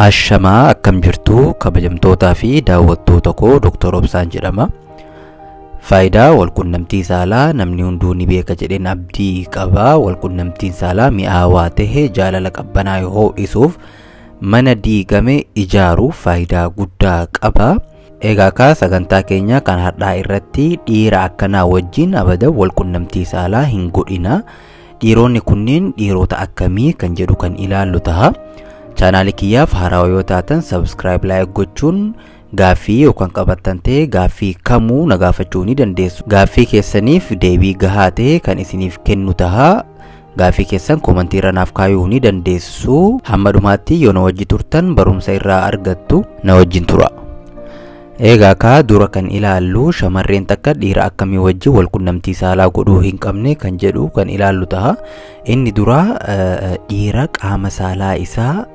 Ashamaa akkam jirtu kabajamtootaa fi daawwattoota koo Dr. Obsaan jedhama. Faayidaa walqunnamtii saalaa namni hunduu ni beeka jedheen abdii qaba. Walqunnamtiin saalaa mi'aawaa ta'e jaalala qabbanaa ho'isuuf mana diigame ijaaruuf faayidaa guddaa qaba. Egaa kaa sagantaa keenya kan har'aa irratti dhiira akkanaa wajjin abadan wal qunnamtii saalaa hin godhina. Dhiironni kunneen dhiirota akkamii kan jedhu kan ilaallu taha. Chaanaalii kiyyaaf haarawaa yoo taatan subscribe like gochuun gaaffii yoo kan qabattan ta'e gaaffii kamuu na gaafachuu ni dandeessu. Gaaffii keessaniif deebii gahaa ta'e kan isiniif kennu taha. Gaaffii keessan komantii irra naaf kaayuu ni dandeessu. Hamma dhumaatti yoo na wajji turtan barumsa irraa argattu na wajjin tura. Eegaa kaa dura kan ilaallu shamarreen takka dhiira akkamii wajji wal qunnamtii saalaa godhuu hin qabne kan jedhu kan ilaallu taha. Inni duraa dhiira qaama saalaa isaa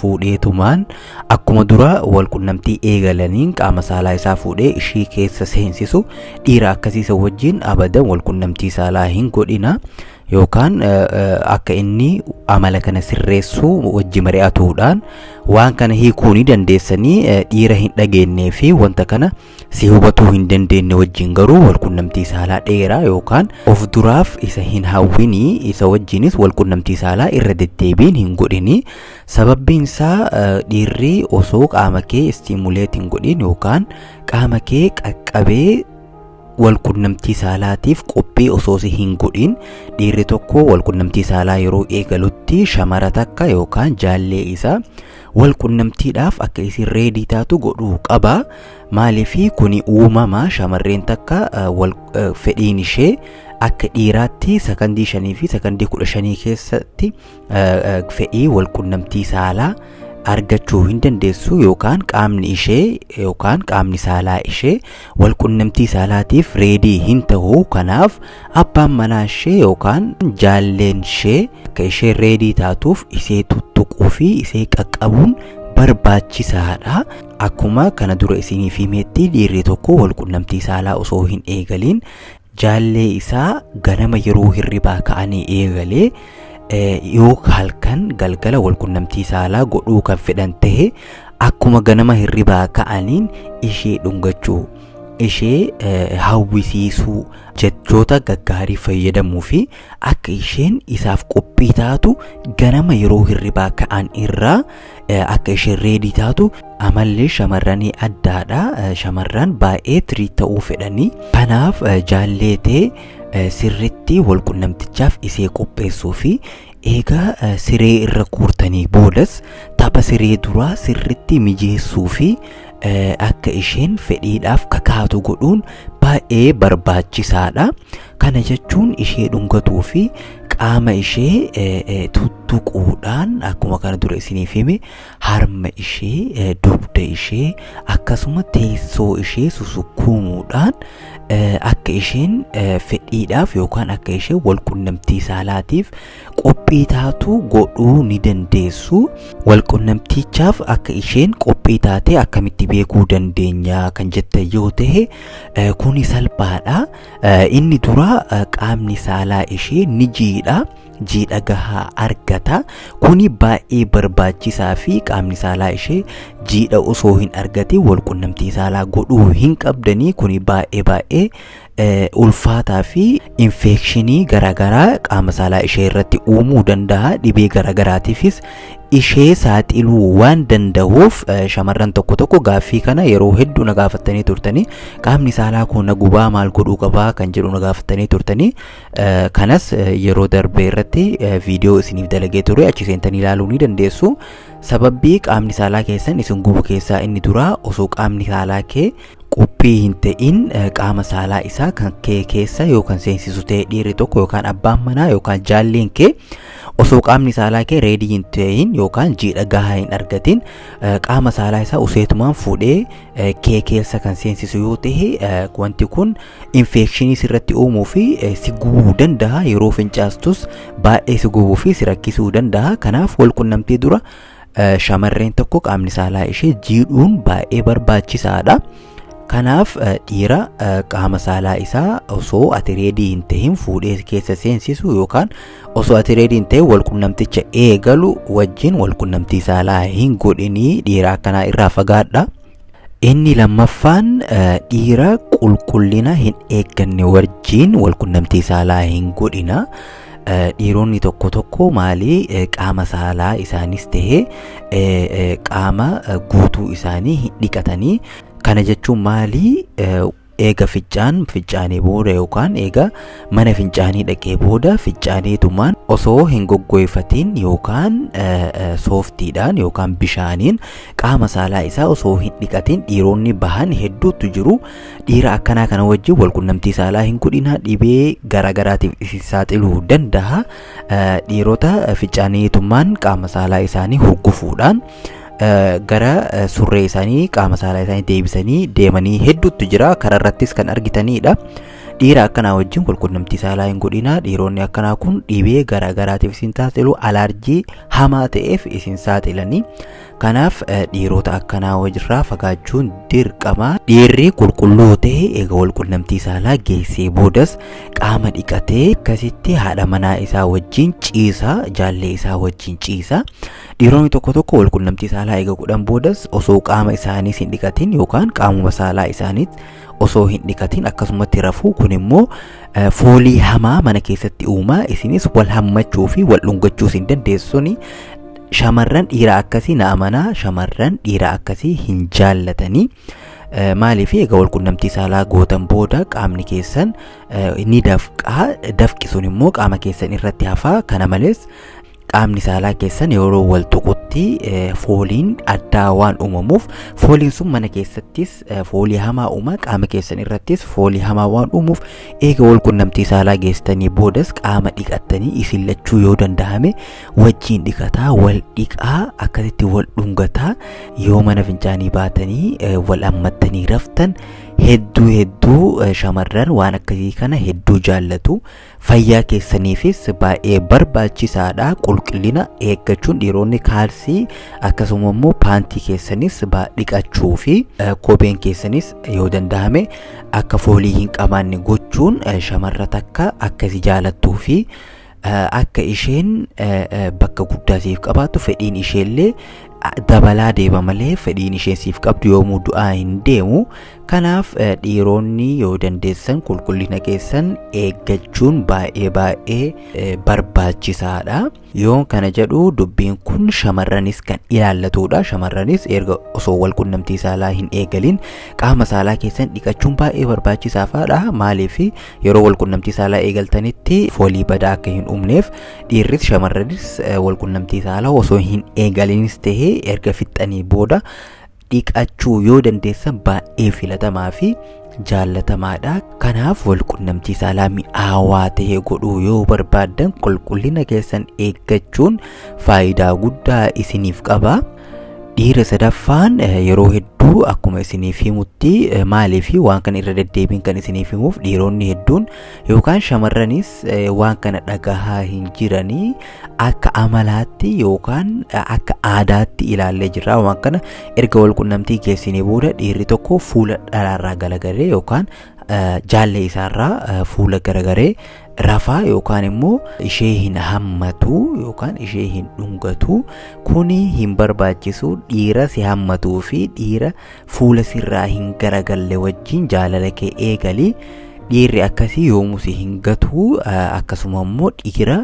fuudheetumaan Akkuma dura wal qunnamtii eegalaniin qaama saalaa isaa fuudhee ishii keessa seensisu dhiira akkasii isa wajjin abadan wal qunnamtii saalaa hin godhina yookaan akka inni amala kana sirreessu wajji mari'atuudhaan waan kana hiikuu ni dandeessanii dhiira hin dhageennee fi wanta kana Si hubatuu hin dandeenne wajjin garuu walqunnamtii saalaa dheeraa yookaan of duraaf isa hin hawwini, isa wajjinis walqunnamtii saalaa irra deddeebiin hin godhini. Sababbiin isaa dhiirri osoo qaama kee stimulate hin godhin yookaan qaama kee qaqqabee walqunnamtii saalaatiif qophii osoo si hin godhin dhiirri tokko walqunnamtii saalaa yeroo eegalutti shamara takka yookaan jaallee isaa wal qunnamtiidhaaf akka isin reedii taatu godhuu qaba maaliifii kuni uumama shamarreen takka wal fedhiin ishee akka dhiiraatti sakandii shanii fi sakandii kudha shanii keessatti fedhii wal qunnamtii saalaa argachuu hin dandeessu yookaan qaamni ishee yookaan qaamni saalaa ishee walqunnamtii saalaatiif reedii hin ta'u kanaaf abbaan manaa ishee yookaan jaalleen ishee akka ishee reedii taatuuf isee tuttuquu fi isee qaqqabuun barbaachisaadha. Akkuma kana dura isiniif himetti dhiirri tokko walqunnamtii saalaa osoo hin eegaliin Jaallee isaa ganama yeroo hirribaa ka'anii eegalee yoo halkan galgala walqunnamtii saalaa godhuu kan fedhan ta'e akkuma ganama hirribaa ka'aniin ishee dhungachuu ishee hawwisiisuu jechoota gaggaarii fayyadamuu fi akka isheen isaaf qophii taatu ganama yeroo hirribaa ka'an irraa akka isheen reedii taatu amalli shamarranii addaadha shamarran baay'ee tirii ta'uu fedhanii kanaaf jaalleetee sirritti walqunnamtichaaf isee qopheessuu fi eegaa siree irra guurtanii boodas tapha siree duraa sirritti mijeessuu fi akka isheen fedhiidhaaf kakaatu godhuun baay'ee barbaachisaadha. Kana jechuun ishee dhungatuu fi qaama ishee tuttuquudhaan akkuma kana dura isiniif hime harma ishee dugda ishee akkasuma teessoo ishee susukkuumuudhaan akka isheen fedhiidhaaf yookaan akka isheen wal qunnamtii saalaatiif qophii taatu godhuu ni dandeessu. Walqunnamtichaaf akka isheen qophii taate akkamitti beekuu dandeenya kan jette yoo ta'e eh, kuni salphaadha. Eh, Inni dura eh, qaamni saalaa ishee ni jiidha. Jiidha gahaa argata. Kuni baay'ee barbaachisaa fi qaamni saalaa ishee jiidha osoo hin argatin walqunnamtii saalaa godhuu hin qabdanii kuni baay'ee baay'ee ulfaataa fi infeekshinii garaagaraa qaama saalaa ishee irratti uumuu danda'a dhibee garaagaraatiifis ishee saaxiluu waan danda'uuf shamarran tokko tokko gaaffii kana yeroo hedduu na gaafattanii turtanii qaamni saalaa koo na gubaa maal godhuu qabaa kan jedhu na gaafattanii turtanii kanas yeroo darbee irratti viidiyoo isiniif dalagee ture achi seentanii ilaaluu ni dandeessu sababbii qaamni saalaa keessan isin gubu keessaa inni duraa osoo qaamni saalaa kee qophii hin ta'in qaama saalaa isaa kan kee keessa yookaan seensisu ta'e dhiirri tokko yookaan abbaan manaa yookaan jaalleen kee osoo qaamni saalaa kee reedii hin ta'in yookaan jiidha gahaa hin argatin qaama saalaa isaa useetumaan fuudhee kee keessa kan seensisu yoo ta'e wanti kun infeekshinii sirratti uumuu fi si gubuu danda'a yeroo fincaastus baay'ee si gubuu fi si rakkisuu danda'a kanaaf wal qunnamtii dura Shamarreen tokko qaamni saalaa ishee jiidhuun baay'ee barbaachisaadha. Kanaaf dhiira qaama saalaa isaa osoo ati reedii hin ta'in fuudhee keessa seensisu yookaan osoo ati reedii hin ta'in walqunnamticha eegalu wajjin walqunnamtii saalaa hin godhinii dhiira akkanaa irraa fagaadha. Inni lammaffaan dhiira qulqullina hin eegganne wajjin walqunnamtii saalaa hin godhina. Dhiironni tokko tokko maalii qaama saalaa isaanis ta'ee qaama guutuu isaanii hin dhiqatanii. Kana jechuun maalii Eega ficcaan ficcaanee booda yookaan eega mana fincaanii dhaqee booda ficcaaneetumaan osoo hin goggoyfatiin yookaan sooftiidhaan yookaan bishaaniin qaama saalaa isaa osoo hin dhiqatiin dhiironni bahan hedduutu jiru. Dhiira akkanaa kana wajjin walqunnamtii saalaa hin godhina dhibee garaagaraatiif isin saaxiluu danda'a. Dhiirota ficcaaneetumaan qaama saalaa isaanii hurgufuudhaan gara surree isaanii qaama saalaa isaanii deebisanii deemanii hedduutu jira karaa irrattis kan argitanidha. Dhiira akkanaa wajjin walqunnamtii saalaa hin godhina dhiironni akkanaa kun dhibee garaagaraatiif isin saaxilu alaarjii hamaa ta'eef isin saaxilanii kanaaf dhiirota akkanaa wajjirraa fagaachuun dirqama dhiirri qulqulluu ta'e eega walqunnamtii saalaa geessee boodas qaama dhiqatee akkasitti haadha manaa isaa wajjin ciisa jaallee isaa wajjin ciisa Dhiironni tokko tokko walqunnamtii saalaa eega godhan boodas osoo qaama isaaniis hin dhiqatin yookaan qaamuma saalaa isaaniis osoo hin dhiqatin akkasumatti rafuu kun immoo eh, foolii hamaa mana keessatti uumaa isinis wal hammachuu fi wal dhungachuus hin dandeessuni shamarran dhiira akkasii na amanaa shamarran dhiira akkasii hin jaallatanii Eh, maaliif egaa walqunnamtii saalaa gootan booda qaamni keessan eh, ni dafqaa dafqi sun immoo qaama keessan irratti hafaa kana malees qaamni saalaa keessan yeroo wal tuqutti eh, fooliin addaa waan uumamuuf fooliin sun mana keessattis eh, foolii hamaa uuma qaama keessan irrattis foolii hamaa waan uumuuf eega wal qunnamtii saalaa geessanii boodas qaama dhiqattanii isin lachuu yoo danda'ame wajjiin dhiqataa wal dhiqaa akkasitti wal dhungataa yoo mana fincaanii baatanii eh, wal ammattanii raftan hedduu hedduu eh, shamarran waan akkasii kana hedduu jaallatu Fayyaa keessaniifis baay'ee barbaachisaadha. Qulqullina eeggachuun dhiironni kaalsii akkasuma immoo paantii keessanis dhiqachuu fi kopheen keessanis yoo danda'ame akka foolii hin qabaanne gochuun shamarra takka akka si jaalattuu fi akka isheen bakka guddaa siif qabaattu fedhiin isheellee dabalaa deema malee fedhiin isheen siif qabdu yoomuu du'aa hin deemu. Kanaaf dhiiroonni yoo dandeessan qulqullina keessan eeggachuun baay'ee baay'ee barbaachisaadha. Yoon kana jedhu dubbiin kun shamarranis kan ilaallatudha. Shamarranis erga osoo wal qunnamtii saalaa hin eegalin qaama saalaa keessan dhiqachuun baay'ee barbaachisaadha. Maaliif yeroo wal qunnamtii saalaa eegaltanitti foolii badaa akka hin uumneef dhiirris shamarranis wal qunnamtii saalaa osoo hin eegalinis ta'ee erga fixxanii booda dhiqachuu yoo dandeessan baay'ee filatamaa fi jaallatamaadha. Kanaaf walqunnamtii saalaa mi'aawaa ta'e godhuu yoo barbaaddan qulqullina keessan eeggachuun faayidaa guddaa isiniif qaba. Dhiira sadaffaan yeroo hedduu akkuma isiniif himutti maaliif waan kana irra deddeebiin kan isiniif himuuf dhiironni hedduun yookaan shamarranis waan kana dhagahaa hin jiranii akka amalaatti yookaan akka aadaatti ilaallee jirra waan kana erga wal qunnamtii geessinee booda dhiirri tokko fuula dhalaarraa galagaree yookaan jaallee isaarraa fuula garagaree rafaa yookaan immoo ishee hin hammatu yookaan ishee hin dhungatu kuni hin barbaachisu dhiira si hammatuu fi dhiira fuula sirraa hin garagalle wajjin jaalala kee eegali dhiirri akkasii yoomuu si hin gatuu akkasuma immoo dhiira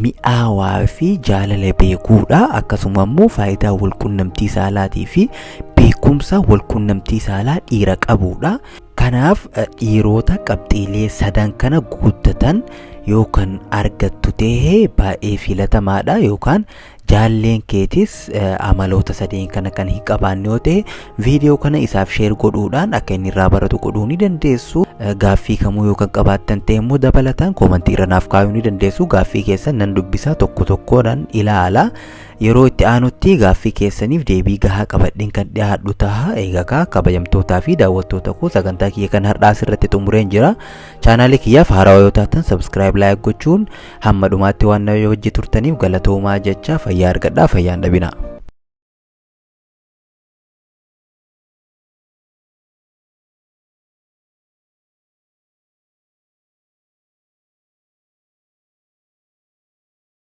mi'aawaa fi jaalala beekuudha akkasuma immoo faayidaa walqunnamtii saalaatii fi beekumsa walqunnamtii saalaa dhiira qabuudha kanaaf dhiiroota qabxiilee sadan kana guuttatan yookaan argattu ta'e baay'ee filatamaadha yookaan jaalleen keetis amaloota sadeen kana kan hin qabaanne yoo ta'e viidiyoo kana isaaf sheer godhuudhaan akka inni irraa baratu godhuu ni dandeessu gaaffii kamuu yoo kan qabaattan ta'e immoo dabalataan koomantii irra naaf kaayuu ni dandeessu gaaffii keessan nan dubbisaa tokko tokkoodhaan ilaala yeroo itti aanutti gaaffii keessaniif deebii gahaa qabadheen kan dhiyaadhu taha eegakaa kabajamtootaa fi daawwattoota koo sagantaa kiyya kan har'aas irratti xumureen jira chaanaalii kiyyaaf haarawaa yoo taatan sabskiraayib laayik gochuun Hamma dhumaatti waan na wajji turtaniif galatoomaa jechaa fayyaa argadhaa fayyaa hin dhabinaa.